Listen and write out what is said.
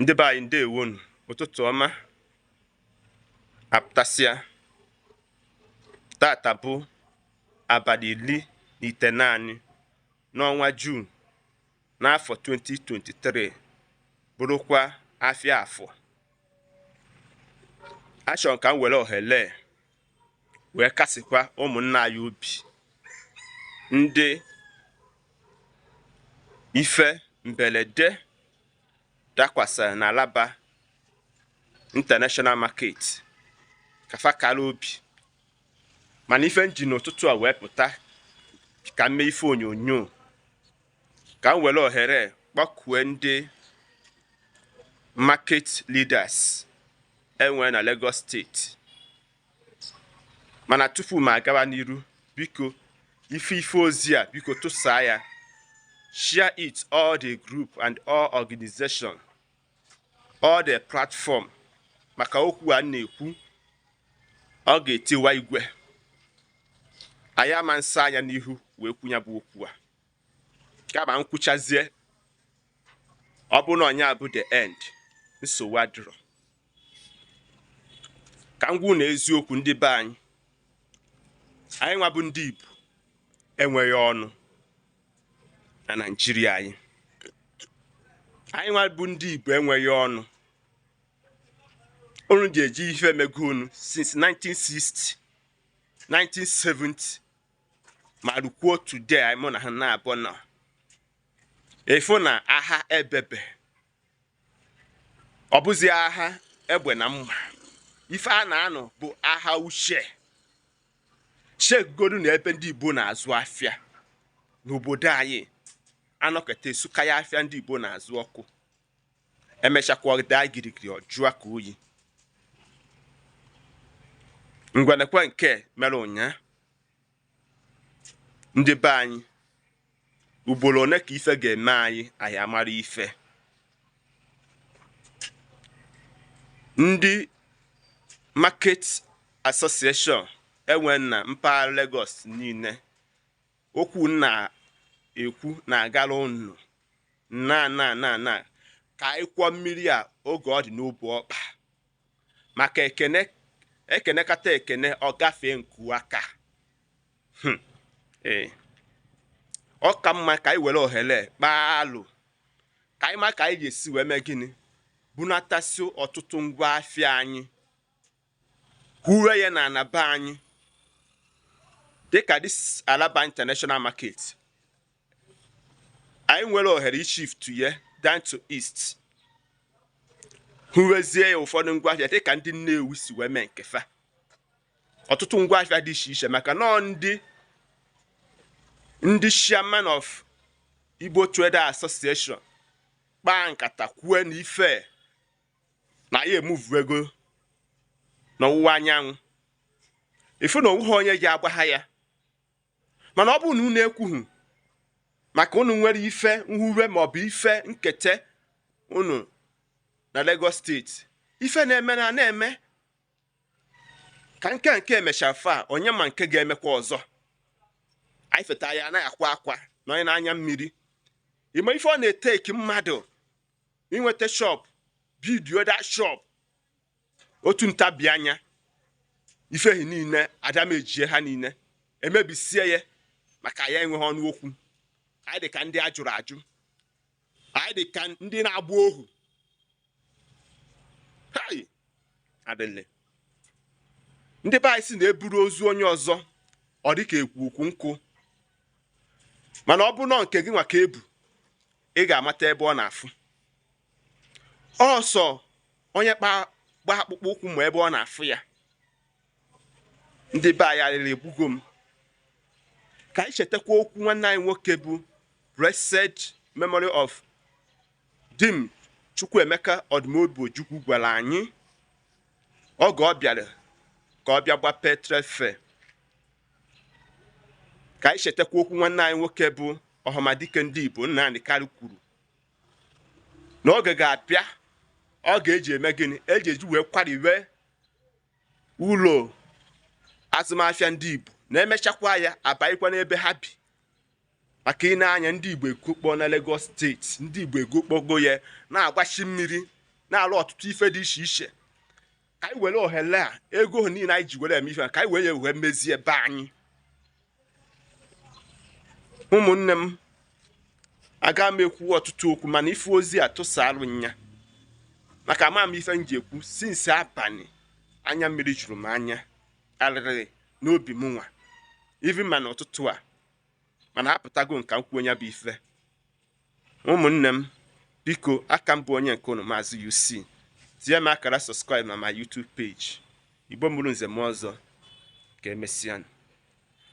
ndị be anyị ndeewonụ ụtụtụ ọma apụtasịa tata bụ abalị iri na itenaanị n'ọnwa Jun n'afọ 2023 bụrụkwa afịa afọ achọrọ m ka m were ohere wee kasịkwa ụmụnna anyị obi ndị ife mberede dakwasịrị n'Alaba International Market ka fa kara obi mana ife m ji n'ụtụtụ a wee pụta ka m mee ife onyonyo ka m were ohere kpọkue ndị market leaders e nwee na Lagos steeti mana tupu m agawa n'iru biko ị fụ ozi a biko tụsaa ya share it all the group and all organization all the platform maka okwu a m na-ekwu ọ ga-etiwa igwe anyị ama nsa anya n'ihu wee kwuo nya bụ okwu a kama m kwuchazie ọ bụrụ na ọ nya bụ the end nsogbu adịrọ ka m gwa unu eziokwu ndị be anyị anyị nwa bụ ndị Igbo enweghị ọnụ na Naịjirịa anyị anyị nwa bụ ndị Igbo enweghị ọnụ unu ji eji ife emego unu since 60 70 ma rukwuo today anyị mụ na ha na-abụ nọ efu na agha ebebe ọ bụzi agha egbe na mma ife a na-anụ bụ agha uche chegodu na ebe ndị Igbo na-azụ afịa n'obodo anyị a nọkata e sukaa afịa ndị Igbo na-azụ ọkụ e mechakwa ọ daa girigiri ọ jụọ ka oyi ngwa nekwa nke mere ụnyaa ndị be anyị ugboro one ka ife ga-eme anyị anyị amara ife ndị market association e nwee na mpaghara Lagos niile okwu m na-ekwu na-agara unu na na na na ka anyị kwọọ mmiri a oge ọ dị n'obu ọkpa maka e kenekata ekene ọ gafee nku aka hmm. ee ọ ka mma ka anyị were ohere kpaa alo ka anyị ma ka anyị ga-esi wee mee gịnị bunatasị ọtụtụ ngwa afịa anyị huwe ya na ana be anyị dịka this Alaba International Market anyị nwere ohere ishift ya down to east huwezie ya ụfọdụ ngwaahịa dịka ndị Nnewi si wee mee nke fa ọtụtụ ngwaafịa dị iche iche maka na ọ ndị ndị chairman of Igbo Trader Association kpaa nkata kwue na ife na anyị emuvugo n'ọwụwa anyanwụ ị fụ na o nweghị onye ji agwa ha ya mana ọ bụrụ na unu ekwughị maka unu nwere ife nhuwe maọbụ ife nketa unu na Lagos State ife na-eme na na-eme ka nke nke emechara fa onye ma nke ga-emekwa ọzọ anyị feta ya anaghị akwa akwa na onye na anya mmiri ịma ife ọ na-etake mmadụ inweta shop build up that shop otu ntabi anya ife ahụ niine adamejie ha niine emebisie ya maka ya enweghị ọnụ okwu anyị dị ka ndị a jụrụ ajụ anyị dị ka ndị na-agba ohu adịle ndị be anyị sị na e buru ozu onye ọzọ ọ dị ka e bu ukwu nkụ mana ọ bụrụ na nke gị nwa ka e bu ị ga-amata ebe ọ na-afụ ọ sọ onye kpa gba akpụkpọ ụkwụ ma ebe ọ na-afụ ya ndị be anyị arịrị egbugo m ka anyị chetakwa okwu nwanne anyị nwoke bụ blessed memory of Dim Chukwuemeka Odumegwu Ojukwu gwara anyị oge ọ bịara ka ọ bịa gbapee Trade Fair ka anyị chetakwa okwu nwanne anyị nwoke bụ ọhamadike ndị Igbo Nnamdi Kanu kwuru na oge ga-abịa a ga-eji eme gịnị eji eji wee kwarịwe ụlọ azụmafịa ndị Igbo na emechakwa ya abanyekwa n'ebe ha bi maka ị nee anya ndị Igbo egokpo na Lagos State ndị Igbo egokpogo ya na-agbachi mmiri na-alụ ọtụtụ ife dị iche iche ka anyị were ohere a ego ha niile anyị ji were eme ife ka anyị were wee mezie be anyị ụmụnne m aga m ekwu ọtụtụ okwu mana ife ozi a tụsarụ ya maka ama m ife m ji ekwu since abalị anya mmiri juru m anya arịrị n'obi m nwa even ma n'ụtụtụ a mana apụtago m ka m kwuo ya bụ ife ụmụnne m biko aka m bụ onye nke unu maazị UC tinye m akara subscribe na my YouTube page Igbo mụrụ nze mụọ ọzọ ka emesịa